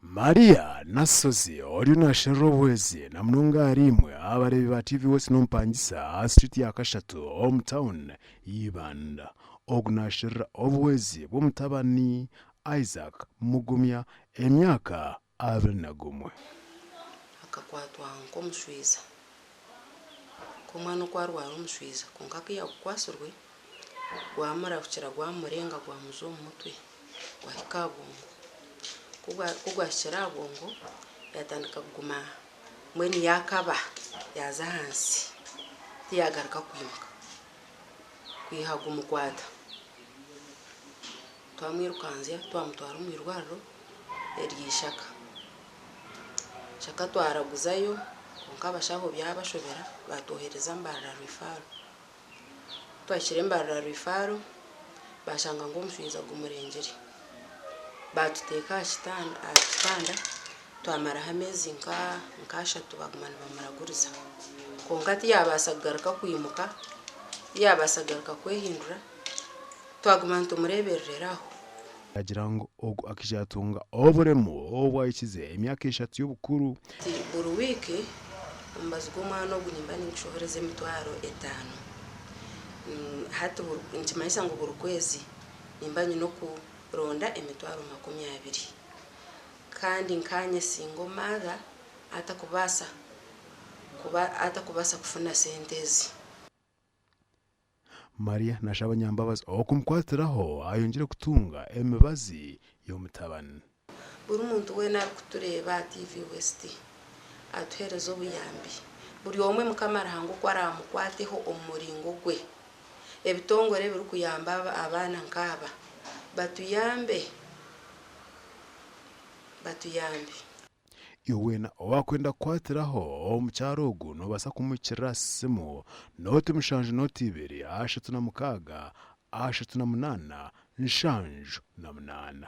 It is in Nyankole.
Maria Nasozi oriyo naasherura obuhwezi na munonga ahari imwe abareebi ba TV West n'omupangisa aha street ya kashatu omu town y'eibanda ogu naasherura obuhwezi bw'omutabani Isaac Mugumya emyaka abiri na gumwe. Akakwatwa nk'omushwiza Ku omwana oku arwara omushwiza kwonka ku yagukwatsirwe gwamura gukira gwamurenga gwamuza omu mutwe gwahika aha bwongo. Ku gwahikire aha bwongo yatandika kuguma mbwenu yakaba yaaza ahansi tiyagaruka kwimuka kwiha gumukwata. Twamwirukanzya twamutwara omu irwariro erya Ishaka. Ishaka twaraguzayo kwonka abashaho byabashobera baatwohereza Mbarara Rwifaaro. Ku twahikire Mbarara Rwifaaro baashanga ngu omushaija gumurengire. Baatuteeka aha kitanda aha kitanda twamaraho ameezi nka nka ashatu baaguma nibamuraguriza. Kwonka tiyaabaasa kugaruka kwimuka, tiyaabaasa kugaruka kwehindura. Twaguma nitumureeberera aho. Nagira ngu ogu akaija yatunga oburemu obu ahikize emyaka eshatu y'obukuru. Ati, Buri wiiki omubazi gw'omwana ogu nimba ningishohoreza emitwaro etaano. Hati nikimanyisa ngu buri kwezi nimba nyine okuronda emitwaro makumi abiri. Kandi nkaanye singo maatha atakubaasa kuba atakubaasa kufuna sente ezi. Maria nashaba nyambabazi okumukwatiraho ayongyere kutunga emibazi y'omutabani. Buri muntu weena arikutureeba aha TV West atuheereze obuyambi. Buri omwe Mukama Ruhanga oku araamukwateho omu muringo gwe. Ebitongore ebirikuyamba abaana nk'aba batuyambe batuyambe. Iwe weena owaakwenda kukwatiraho omukyara ogu noobaasa kumuhikirira aha simu, nooti mushanju nooti ibiri ashatu na mukaaga ashatu na munaana nshanju na munaana.